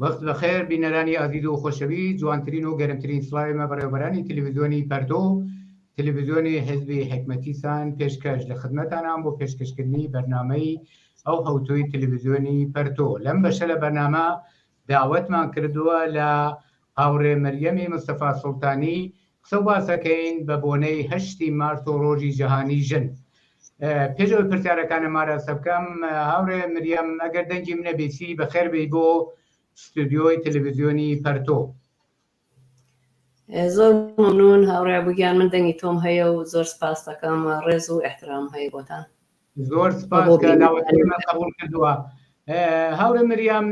وەخت بەخێر بینەرانی ئازیز و خۆشەوی جوانترین و گەرمترین سڵاوی مە بەڕێوبەرانی تلویزیۆنی پەرتۆ و تلویزیۆنی حیزبی حیکمەتی سان پێشکەش لە خدمەتانام بۆ پێشکەشکردنی بەرنامەی ئەو هەوتووی تلویزیۆنی پەرتۆ لەم بەشە لە بەرنامە داوەتمان کردووە لە هاوڕێ مەریەمی مستەفا سوڵتانی قسە و باسەکەین بە بۆنەی هەشتی مارت و ڕۆژی جەهانی ژن. پێش ئەوەی پرسیارەکانم ئاراستە بکەم، هاوڕێ مریەم ئەگەر دەنگیم نەبیسی بەخێر بێی بۆ ستودیۆی تەلەڤیزیۆنی پەرتۆ. زۆر مەمنون هاوڕێ عەبوو گیان، من دەنگی تۆم هەیە و زۆر سپاستەکەم، ڕێز و ئیحترام هەیە بۆتان. زۆر سپاس کە داوەتکەی من قەبوڵ کردووە. هاوڕێ مریەم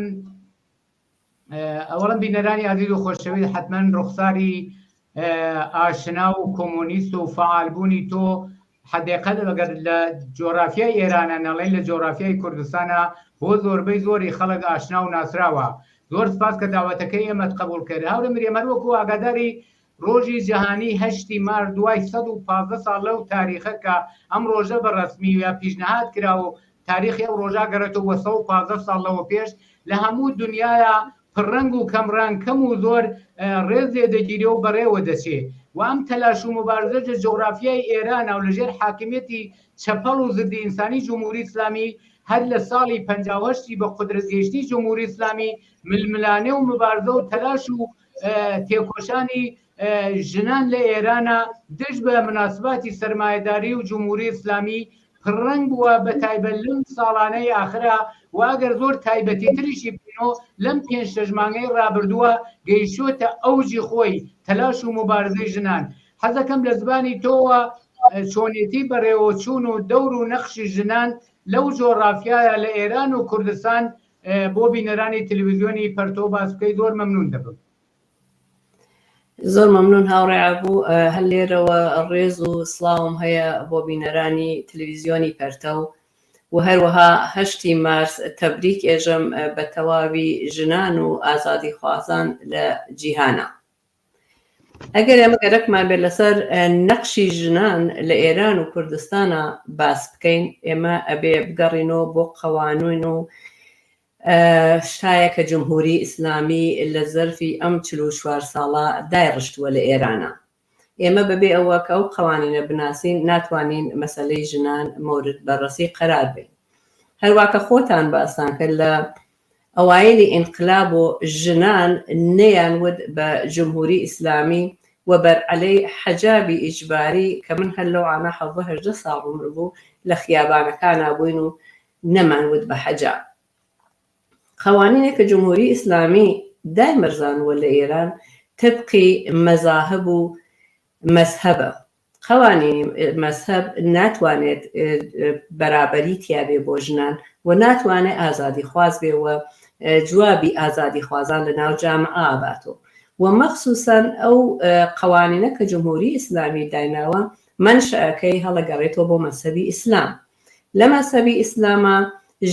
ئەوەڵەم بینەرانی ئازیز و خۆشەویست حتمما ڕوخساری ئاشنا و کۆمۆنیست و فعالبوونی تۆ حدێقە لەگەر لە جۆرافیای ئێرانە نەڵێن لە جۆرافیای کوردستانە بۆ زۆربەی زۆری خەڵک ئاشنا و ناسراوە زۆر سپاس کە داوەتەکەی ئێمەت قبوڵ کرد هاورێ مرێمەر وەکو ئاگاداری ڕۆژی جەهانیی هەشتی مارس دوای سەد و پازدە ساڵ لەو تاریخە کە ئەم ڕۆژە بە ڕەسمی یا پیشنهاد کراوە و تاریخی ئەو ڕۆژە گەڕێتەوە بۆ سەد و پازدە ساڵ لەوە پێش لە هەموو دنیایا پڕ ڕەنگ و کەم ڕەنگ، کەم و زۆر ڕێز لێ دەگیرێ و بەڕێوە دەچێ و ئەم تەلاش و موبارزەش لە جوغرافیای ئێرانا و لە ژێر حاکمیەتی چەپەڵ و زدی ئینسانی جمهوری ئیسلامی هەر لە ساڵی پەنجا و هەشت ی بە قودرەت گەیشتنی جمهوری ئیسلامی ململانێ و مبارزە و تەلاش و تێکۆشانی ژنان لە ئێرانە دژ بە مناسباتی سەرمایەداری و جمهوری ئسلامی پڕەنگ بووە بە تایبەت لەم ساڵانەی ئاخرا و ئەگەر زۆر تایبەتی تریشی بینۆ لەم پێنج شەژمانگەی ڕابردووە گەیشتە ئەوجی خۆی تەلاش و مبارزەی ژنان حەزەکەم لە زبانی تۆوە چۆنێتی بەڕێوەچوون و دەور و نەخشی ژنان لەو جۆڕافیایە لە ئێران و کوردستان بۆ بینەرانی تلویزیۆنی پەرتۆ باس بکەی زۆر مەمنون دەبم. زۆر مەمنون هاوڕێ ئابوو، هەر لێرەوە ڕێز و سڵاوم هەیە بۆ بینەرانی تلویزیۆنی پەرتەو و هەروەها هەشتی مارس تەبریک ئێژەم بە تەواوی ژنان و ئازادیخوازان لە جیهانا. ئەگەر ئێمە گەرەکمان بێت لەسەر نەقشی ژنان لە ئێران و کوردستانە باس بکەین ئێمە ئەبێ بگەڕینەوە بۆ قەوانوین و شایە کە جمهوری ئیسلامی لە زەرفی ئەم چل و چوار ساڵە دای ڕشتووە لە ئێرانە ئێمە بەبێ ئەوە کە ئەو قوانینە بناسین ناتوانین مەسلەی ژنان مورد بەڕسی قەرار بێت هەرواکە خۆتان باسان کرد لە ئەوایلی ئینقلاب و ژنان نەیان وت بە جمهوری ئیسلامی و بەر عەلەی حەجابی ئیجباری کە من هەر لەو عانە حەڤدە هەژدە ساڵ عومر بوو لە خیابانەکانا بووین و نەمان وت بە حەجاب قەوانینێک کە جمهوری ئیسلامی دایمەرزانووە لە ئێران تەبقی مەزاهب و مەزهەبە قوانینی مەزهەب ناتوانێت بەرابەری تیابێ بۆ ژنان و ناتوانێ ئازادی خواز بێ و جوابی ئازادی خوازان لە ناو جامعە باتۆ و مەخسوسەن ئەو قوانینە کە جمهوری ئیسلامی دایناوە مەنشەکەی هەڵەگەڕێتۆ بۆ مەزهەبی ئیسلام لە مەزهەبی ئیسلاما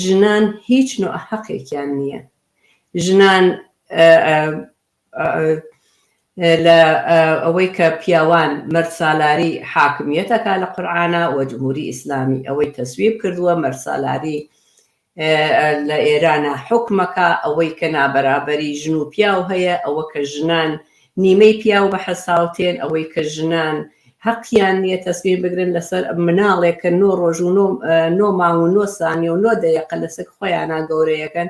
ژنان هیچ نوع حەقێکیان نیە ژنان لە ئەوەی کە پیاوان مەرد سالاری حاکمیەت ئەکا لە قورعانا وە جمهوری ئیسلامی ئەوەی تەسویب کردووە مەرد سالاری لە ئێرانا حوکم ئەکا ئەوەی کە نابەرابەری ژن و پیاو هەیە ئەوە کە ژنان نیمەی پیاو بە حەساوتێن ئەوەی کە ژنان هەقیان نییە تەسویب بگرن لەسەر مناڵێک کە نۆ ڕۆژ و نۆ مانگ و نۆ سانیە و نۆ دەیەقە لە سک خۆیانا گەورەیەکەن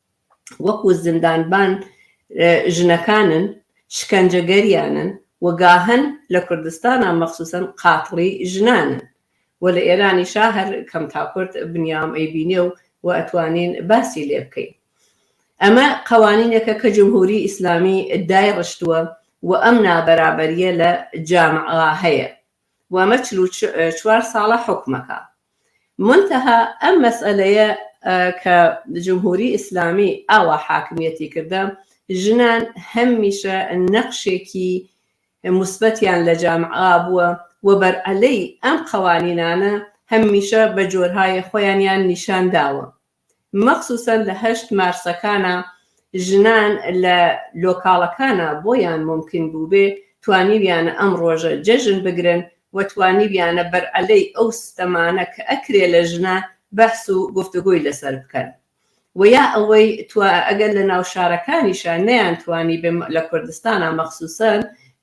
وەکو زیندانبان ژنەکانن شکەنجەگەریانن و گاهەن لە کوردستانا مەخسوسەن قاتڵی ژنانن و لە ئێرانیشا هەر کەم تا کورد بنیام ئەیبینێ و و ئەتوانین باسی لێ بکەین ئەمە قەوانینێکە کە جمهوری ئیسلامی دایڕشتوە و ئەم نابەرابەریە لە جامعا هەیە وامە چل و چوار ساڵە حوکمەکا مونتەها ئەم مەسئەلەیە کە جمهوری ئیسلامی ئاوا حاکمیەتی کردە ژنان هەم میشە نەقشێکی موسبەتیان لە جامعا بووە و بەر عەلەی ئەم قەوانینانە هەم میشە بە جۆرهایە خۆیانیان نیشان داوە مەخسوسەن لە هەشت مارسەکانا ژنان لە لۆکاڵەکانا بۆیان مومکن بووبێ توانیویانە ئەم ڕۆژە جەژن بگرن و توانیویانە بەر عەلەی ئەو ستەمانە کە ئەکرێ لە ژنان بەحس و گفتوگۆی لەسەر بکەن و یا ئەوەی توا ئەگەر لە ناو شارەکانیشا نەیان توانیبێ لە کوردستانا مەخسوسەن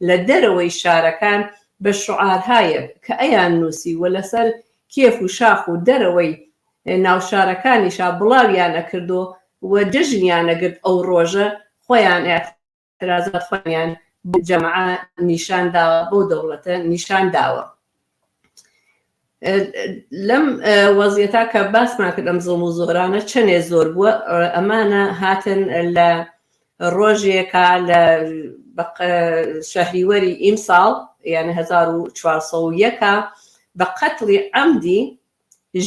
لە دەرەوەی شارەکان بە شوعارهایەک کە ئەیان نووسی و لەسەر کێف و شاخ و دەرەوەی ناوشارەکانیشا بڵاویان ئەکردو و جەژنیان ئەگرت ئەو ڕۆژە خۆیان ئیعترازات خۆیانیان بەو جەمعە نیشان داوە بەو دەوڵەتە نیشان داوە لەم وەزیەتا کە باسمان کرد ئەم زڵم و زۆرانە چەنێ زۆر بووە ئەمانە هاتن لە ڕۆژێکا لە شەهریوەری ئیمساڵ یعنی 1940 بە قەتڵی ئەمدی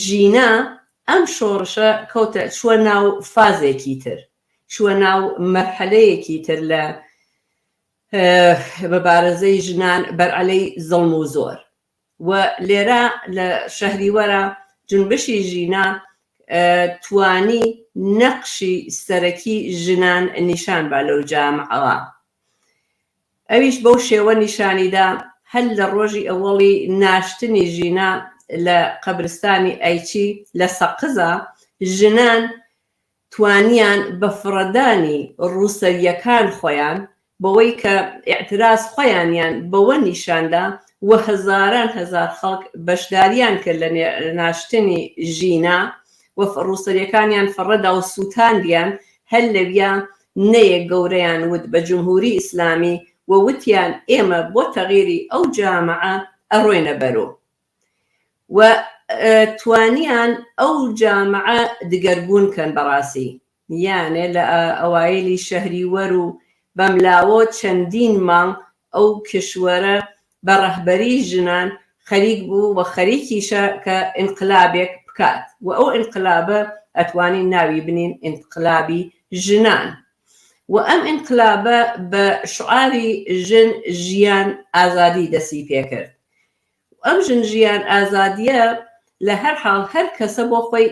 ژینا، ئەم شۆڕشە کەوتە چووە ناو فازێکی تر، چووە ناو مەرحەلەیەکی تر لە مبارەزەی ژنان بەرعەلەی زوڵم و زۆر و لێرە لە شەهریوەرا جونبشی ژینا توانی نەقشی سەرەکی ژنان نیشان با لەو جامعەوە. ئەویش بەو شێوە نیشانی دا هەر لە ڕۆژی ئەوەڵی ناشتنی ژینا لە قەبرستانی ئەیچی لە سەقزا، ژنان توانیان بە فڕەدانی ڕووسەرییەکان خۆیان، بەوەی کە ئیعتراز خۆیانیان بەوە نیشان دا و هەزاران هەزار خەڵک بەشدارییان کرد لە ناشتنی ژینا و ڕووسەرییەکانیان فڕەدا و سووتاندیان، هەر لەویا نەیەک گەورەیان وت بە جمهوری ئیسلامی و وتیان ئێمە بۆ تەغیری ئەو جامعە ئەڕۆینە بەرو و توانیان ئەو جامعە دگەرگون کەن بەڕاسی یانێ لە ئەوایلی شەهری وەرو بەملاوەو چەندین مانگ ئەو کیشوەرە بە ڕەهبەری ژنان خەریک بوو و خەریکیشە کە ئینقلابێک بکات و ئەو ئینقلابە ئەتوانین ناوی بنین ئینقلابی ژنان و ئەم ئینقلابە بە شوعاری ژن ژیان ئازادی دەستی پێکرد و ئەم ژن ژیان ئازادیە لە هەر حاڵ هەر کەسە بۆ خۆی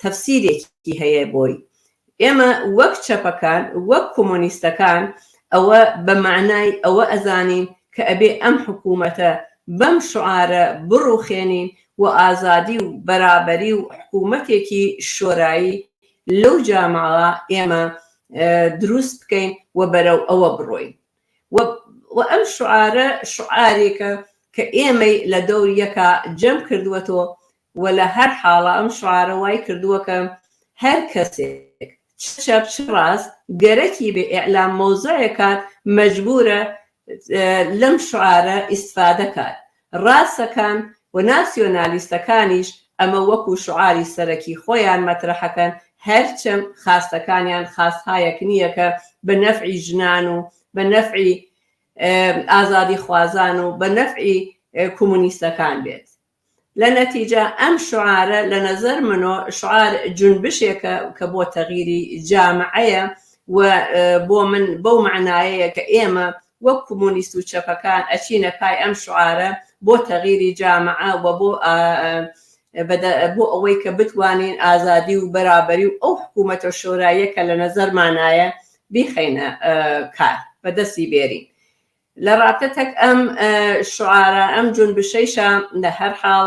تەفسیرێکی هەیە بۆی ئێمە وەک چەپەکان وەک کۆمۆنیستەکان ئەوە بە مەعنای ئەوە ئەزانین کە ئەبێ ئەم حکوومەتە بەم شوعارە بڕووخێنین و ئازادی و بەرابەری و حکوومەتێکی شۆرایی لەو جاماوە ئێمە درووست بکەین و بەرەو ئەوە بڕۆین وە ئەم شوعارە شوعارێکە کە ئێمەی لە دەور یەکا جەم کردووەتۆ وە لە هەر حاڵە ئەم شوعارە وای کردووە کە هەر کەسێک چ چەپ چ ڕاست گەرەکی بێ ئیعلام مەوزەعێک کات مەجبوورە لەم شوعارە ئیستفادە کات ڕاستەکان و ناسیۆنالیستەکانیش ئەمە وەکو شوعاری سەرەکی خۆیان مەترەحەکەن، هەرچەم خاستەکانیان خاستهایەک نییە کە بە نەفعی ژنان و بە نەفعی ئازادیخوازان و بە نەفعی کومونیستەکان بێت. لە نەتیجە ئەم شوعارە لە نەزەر منۆ شوعار جونبشێکە کە بۆ تەغیری جامعەیە و بۆ من بەو مەعنایەیە کە ئێمە وەک کمونیست و چەپەکان ئەچینە پای ئەم شعارە بۆ تەغیری جامعە و بۆ بۆ ئەوەی کە بتوانین ئازادی و بەرابەری و ئەو حکوومەتە شۆراییە کە لە نەزەرمانایە بیخەینە کار بە دەستی بێرین لە ڕاپتەک ئەم شعارە ئەم جونبشەیشە لە هەر حاڵ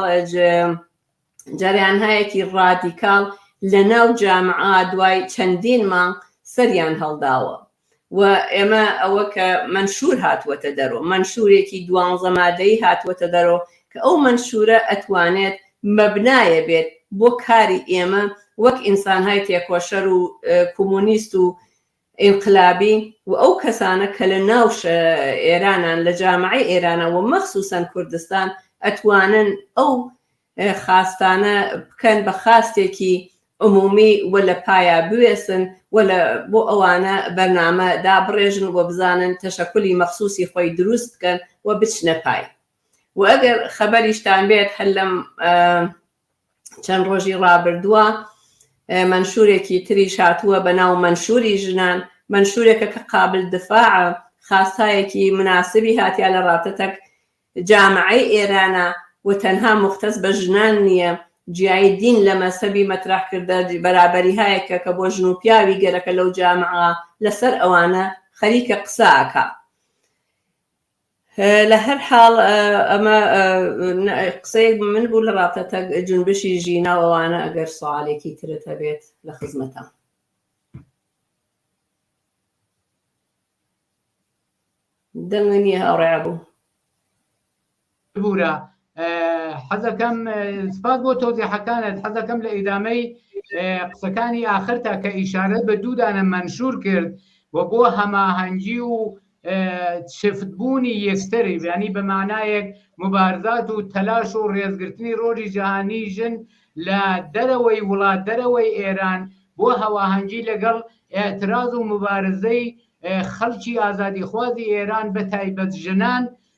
جەرەانهایەکی ڕادیکاڵ لە ناو جامعە دوای چەندین مانگ سەریان هەڵداوە و ئێمە ئەوە کە مەنشور هاتووەتە دەرۆ مەنشورێکی دوانزە مادەی هاتووەتە دەرۆ کە ئەو مەنشورە ئەتوانێت مەبنایە بێت بۆ کاری ئێمە وەک ئینسانهای تێکۆشەر و کۆمۆنیست و ئینقلابی و ئەو کەسانە کە لە ناو ئێرانان لە جامعەی ئێرانە و مەخسوسەن کوردستان ئەتوانن ئەو خاستانە بکەن بە خاستێکی عمومی و لە پایا بوێسن و لە بۆ ئەوانە بەرنامە دابڕێژن و بزانن تەشەکولی مەخسوسی خۆی دروست بکەن و بچنە پای و ئەگەر خەبەریشتان بێت هەر لەم چەند ڕۆژی ڕابردووە منشورێکی تریش هاتووە بە ناو منشوری ژنان منشورێکە کە قابل دفاع خاستایەکی مناسبی هاتیا لە ڕاتەتەک جامعی ئێرانە و تەنها مختص بە ژنان نییە جیایی دین لە مەسەبی مەترح کردە بەرابەری هایەکە کە بۆ ژن و پیاوی گەرەکە لەو جامعە لەسەر ئەوانە خەریکە قساکە لە هەر حاڵ ئەمە قسەیەک من بوو لە ڕاپەتە جونبشی ژینا و ئەوانە ئەگەر سوالێکی ترت هەبێت لە خزمەتە دەنگی نییە هاوڕێ بوو ببوورە حەزەکەم سپاس بۆ تۆزیحەکانت حەزەکەم لە ئیدامەی قسەکانی ئاخرتا کە ئیشارەت بە دوودانە مەنشور کرد و بۆ هەماهەنگی و شفتبوونی یەکتری ینی بە مانایەک مبارزات و تەلاش و ڕێزگرتنی ڕۆژی جیهانی ژن لە دەرەوەی وڵات دەرەوەی ئێران بۆ هەواهەنگی لەگەڵ ئاعتراز و مبارزەی خەڵکی ئازادیخوازی ئێران بە تایبەت ژنان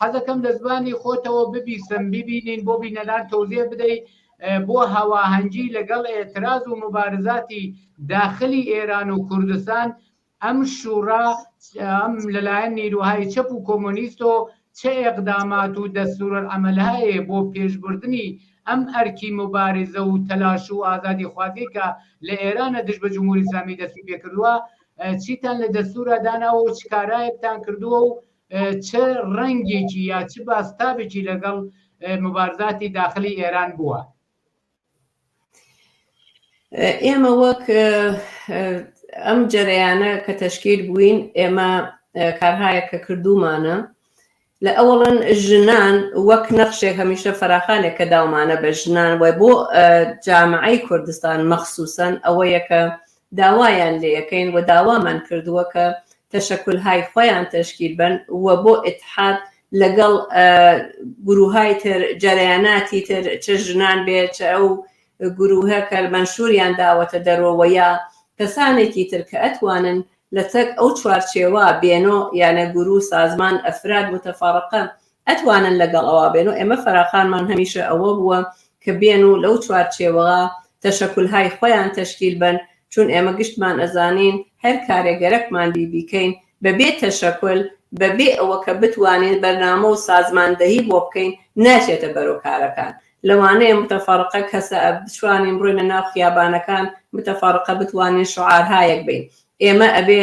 حەزەکەم لە زمانی خۆتەوە ببیسم بیبینین بۆ بینەران تۆزیە بدەی بۆ هەواهەنگی لەگەڵ ئێتراز و موبارزاتی داخلی ئێران و کوردستان ئەم شوڕا ئەم لەلایەن نیروهای چەپ و کۆمۆنیست و چ ئێقدامات و دەستورەر ئەمەلهەیە بۆ پێشبردنی ئەم ئەرکی مبارزە و تەلاش و ئازادی خوازی کە لە ئێرانە دژ بە جمهوری ئیسلامی دەستی پێکردووە چیتان لە دەستورە داناوە و چ کارایەکتان کردووە و چ ڕەنگێکی یا چ باستابێکی لەگەڵ مبارزاتی داخلی ئێران بووە؟ ئێمە وەک ئەم جەرەیانە کە تەشکیل بووین ئێمە کارهایە کە کردومانە لە ئەوڵەن ژنان وەک نەخشێک هەمیشە فراخانێک کە داومانە بە ژنان وای بۆ جامعی کوردستان مەخصوسن ئەوە یەکە داوایان لێەکەین و داوامان کردووە کە تەشەکولهای خۆیان تەشکیل بەن و بۆ ئیتحاد لەگەڵ گرووهای تر جەرەیاناتی تر چ ژنان بێ چ ئەو گرووهە کە مەنشوریان داوەتە دەرۆ وە یا کەسانێکی تر کە ئەتوانن لە چەک ئەو چوارچێوە بێنۆ یانە گروو سازمان ئەفراد متفرقە ئەتوانن لەگەڵ ئەوا بێن و ئێمە فەراخانمان هەمیشە ئەوە بووە کە بێن و لەو چوارچێوەا تەشەکولهای خۆیان تەشکیل بەن چون ئێمە گشتمان ئەزانین هەر کارێ گەرەکمان بی بیکەین بە بێ تەشەکول بە بێ ئەوە کە بتوانین بەرنامە و سازماندەهی بۆ بکەین ناچێتە بەرو کارەکان لەوانەیە متفرقە کەسئ بتوانین بڕۆینە ناو خیابانەکان متفرقە بتوانین شعارهایەک بین ئێمە ئەبێ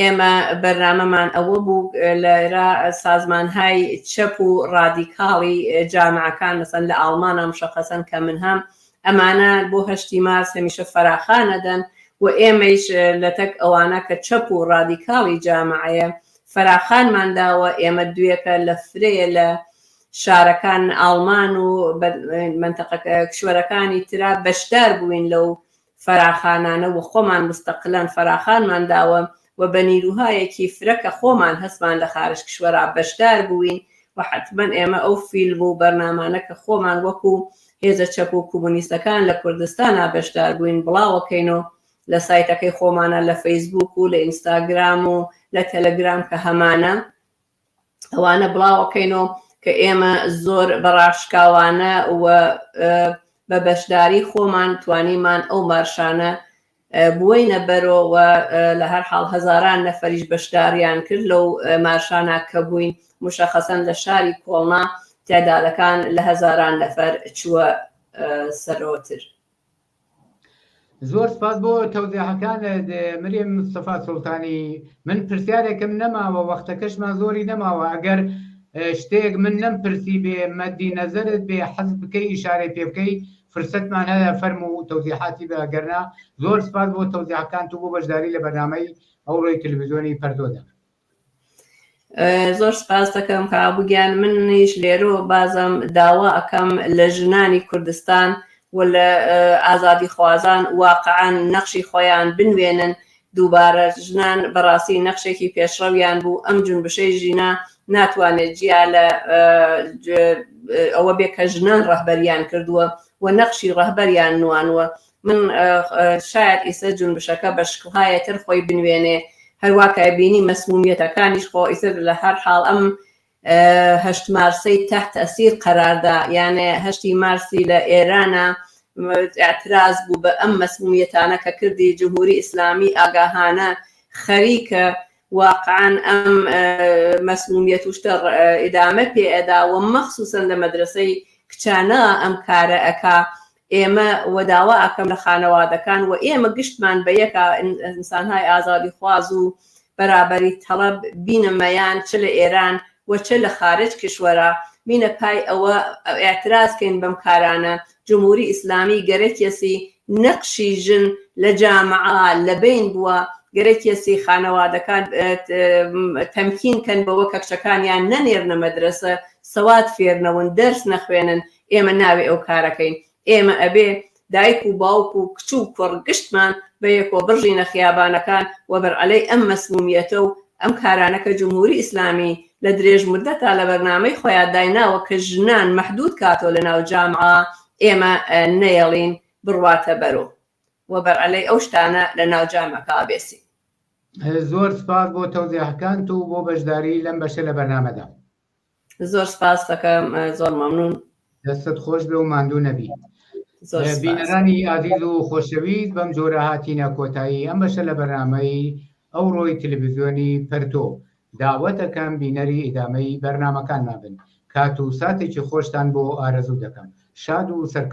ئێمە بەرنامەمان ئەوە بوو لێرە سازمانهای چەپ و ڕادیکاڵی جامعەکان مەسەن لە ئاڵمانا مشەخەسەن کە من هەم ئەمانە بۆ هەشتی مارس هەمیشە فەراخانە دەن و ئێمەیش لەتەک ئەوانە کە چەپ و ڕادیکاڵی جامعەیە فەراخانمان داوە ئێمە دوێکە لە فرەیە لە شارەکان ئاڵمان و مەنتەقەکە کشوەرەکانی ترا بەشدار بووین لەو فەراخانانە و خۆمان مستقلەن فەراخانمان داوە و بە نیروهایەکی فرە کە خۆمان هەستمان لە خارج کشوەرا بەشدار بووین و حەتمەن ئێمە ئەو فیلم و بەرنامانە کە خۆمان وەکو هێزە چەپ و کومونیستەکان لە کوردستانا بەشدار بووین بڵاوەکەین و لە سایتەکەی خۆمانا لە فەیسبووک و لە ئینستاگرام و لە تەلەگرام کە هەمانە ئەوانە بڵاوەکەینەوە کە ئێمە زۆر بەڕاشکاوانە و بە بەشداری خۆمان توانیمان ئەو مارشانە بووینە بەرەوە لە هەر حاڵ هەزاران نەفەریش بەشداریان کرد لەو مارشانە کە بووین مشەخەسەن لە شاری کۆڵنا تعدادەکان لە هەزاران نەفەر چووە سەرەوەتر. زۆر سپاس بۆ تەوزیحەکانت مریم مستەفا سوڵتانی من پرسیارێکم نەماوە وەختەکەشمان زۆری نەماوە ئەگەر شتێک من نەم پرسی بێ مەدی نەزەرت بێ حەز بکەی ئیشارەی پێ بکەی فرسەتمان هەیە فەرم و تەوزیحاتی بە گەرنا زۆر سپاس بۆ تەوزیحەکان تو بۆ بەشداری لە بەرنامەی ئەوڕۆی تلویزیۆنی پەردۆدا زۆر سپاس دەکەم کابووگیان منیش لێرۆ بازم داوا ئەەکەم لە ژنانی کوردستان و لە ئازادی خوازان واقعان نەخشی خۆیان بنوێنن دووبارە ژنان بەڕاستی نەخشێکی پێشڕەویان بوو ئەم جونبشەی ژینا ناتوانێت جیا لە ئەوە بێ کە ژنان ڕەهبەریان کردووە و نەخشی ڕەهبەریان نوانوە من شایەد ئیسە جونبشەکە بە شکڵهایێ تر خۆی بنوێنێ، هەروا کە بینی مەسمومیەتەکانیش خۆ ئیسە لە هەر حاڵ ئەم هەشت مارسەی تەحت تەئسیر قەرار دا، یانێ هەشتی مارسی لە ئێرانە ئێعتراز بوو بە ئەم مەسمومیەتانە کە کردی جمهوری ئیسلامی ئاگاهانە خەریکە واقعەن ئەم مەسمومیەت و شتە ئیدامە پێ ئەدا و مەخسوسەن لە مەدرەسەی کچانە ئەم کارە ئەکا ئێمە وە داوا ئەکەم لە خانەوادەکان وە ئێمە گشتمان بە یەکا ئنسانهای ئازادی خواز و بەرابەری تەڵەب بینە مەیان چ لە ئێران وە چ لە خارج کشوەرا بینە پای ئەوە ئعتراز کەین بەم کارانە جمهوری ئیسلامی گەرەکیەسی نەقشی ژن لە جامعە لە بەین بوە گەرەکیەسی خانەوادەکان تەمکین کەن بەوە کە کچەکانیان نەنێرنە مەدرەسە سەواد فێرنەون دەرس نەخوێنن ئێمە ناوێ ئەو کارەکەین ئێمە ئەبێ دایک و باوک و کچ و کوڕ گشتمان بە یەکۆ بڕژینە خیابانەکان و بەرعەلەی ئەم مەسمومیەتە و ئەم کارانە کە جمهوری ئیسلامی لە درێژ مدەتا لە بەرنامەی خۆیا دایناوە کە ژنان مەحدود کاتۆ لە ناو جامعە ئێمە نەیەڵین بڕواتە بەرو و بەرعەلەی ئەو شتانە لە ناو جامعەکا بێسین. زۆر سپاس بۆ تەوزیهەکانت و بۆ بەشداریی لەم بەشە لە بەرنامەدا. زۆر سپاس دەکەم زۆر مەمنون دەستت خۆش بێ و ماندوو نەبی بینەرانی ئازیز و خۆشەویست بەم جۆرە هاتینە کۆتایی ئەم بەشە لە بەرنمەی ئەو ڕۆی تلویزیۆنی پەرتۆ داوەتەکەم بینەری ئیدامەی بەرنمەکانمان بن کات و ساتێکی خۆشتان بۆ ئارەزوو دەکەم شاد و سەرکەوت